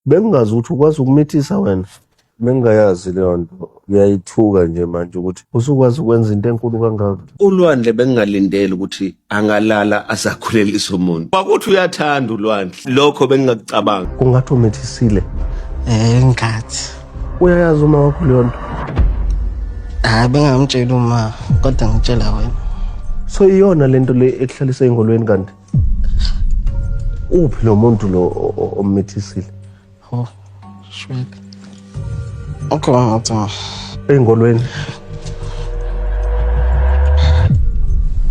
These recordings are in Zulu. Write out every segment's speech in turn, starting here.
bengingazi ukuthi ukwazi ukumithisa wena bengingayazi leyo nto uyayithuka nje manje ukuthi usukwazi ukwenza into enkulu kangaka ulwandle bengingalindeli ukuthi angalala azakhulelisa umuntu kwakuthi uyathanda ulwandle lokho bengingakucabanga kungathi umithisile eh ngathi uyayazi uma wakho leyo nto hayi bengamtsheli uma kodwa ngitshela wena so iyona lento le ekuhlalisa engolweni kanti uphi lo muntu lo ommithisile oh shwele okhona engolweni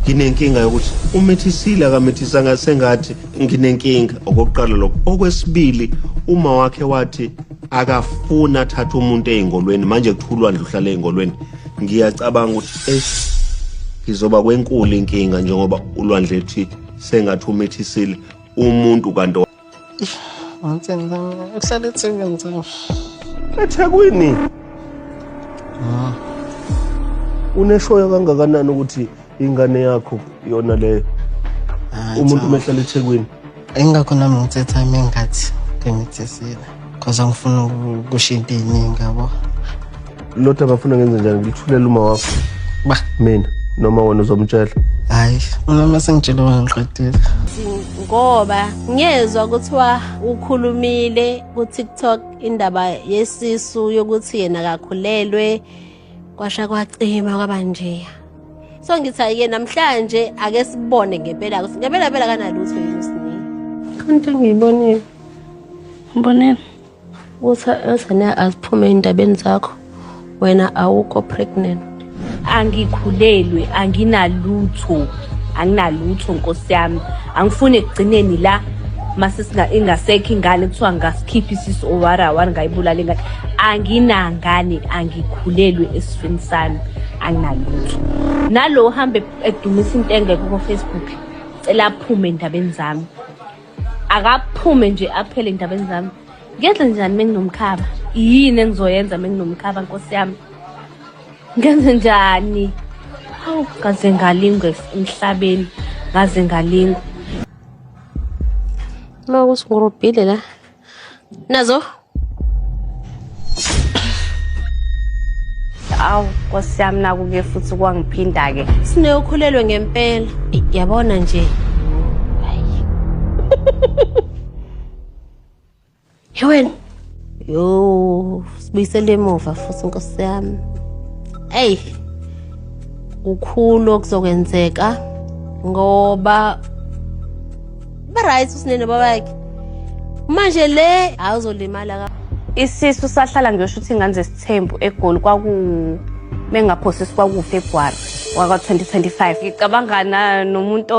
nginenkinga yokuthi umethisile akamethisanga sengathi nginenkinga okokuqala lokho okwesibili uma wakhe wathi akafuni athathe umuntu ey'ngolweni manje kuthulwa ndlu uhlale ey'ngolweni ngiyacabanga ukuthi eyi ngizoba kwenkulu inkinga njengoba ulwandle ethi sengathi umithisile umuntu kanti uhlala ethekwini ethekwini ah. uneshoyo kangakanani ukuthi ingane yakho yona leyo umuntu umehlala ethekwini Ingakho nami ngithetha ime ngathi ngimithesile cause angifuni ukushinta iy'ningi yabo lodwa abafuna ngenze njani ngilithulela uma wakho ba mina noma wena uzomtshela hayi unoma sengitshela wena ngiqedile ngoba ngiyezwa kuthiwa ukhulumile ku-tiktok indaba yesisu yokuthi yena kakhulelwe kwasha kwacima kwaba njeya so ngithi ayike namhlanje ake sibone ngempela ukuthi ngempela phela kanalutho yini usini kanti ngiyibonile mbonela uthi ezane aziphume endabeni zakho wena awukho pregnant angikhulelwe anginalutho anginalutho nkosi yami angifuni ekugcineni la masisina ingasekho ingane kuthiwa ngasikhipha isisu owara wari ngayibulala ingane anginangane angikhulelwe esifeni sami anginalutho nalo uhambe edumisa into engekho kofacebook cela aphume endabeni zami akaphume nje aphele endabeni zami ngenze njani menginomkhaba yini engizoyenza menginomkhaba nkosi yami ngenze njani hawu kaze ngalingwe emhlabeni ngaze ngalingwa ma kusingurubhile la nazo awu nkosi yami nakuke futhi kwangiphinda-ke sineyokhulelwe ngempela yabona nje Yewena. Yo, sibuyisele emuva futhi inkosi yami. Ey. Kukhulu okuzokwenzeka ngoba ba right usinene babakhe. Manje le awuzolimala ka. Isisu sahlala ngiyosho ukuthi ingane zesithembu egoli kwaku mengaphosisi kwakufa egwara waka 2025. Ngicabangana nomuntu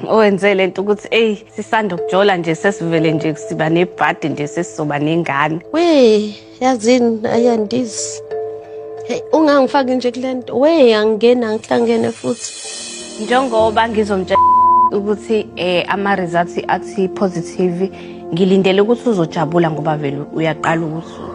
owenze lento ukuthi ey sisanda ukujola nje sesivele nje siba nebhadi nje sesizoba nengane we yazini ayandizi hey ungangifaki nje kule nto we angena ngihlangene futhi njengoba ngizomtshela ukuthi eh ama results athi positive ngilindele ukuthi uzojabula ngoba vele uyaqala ukuthi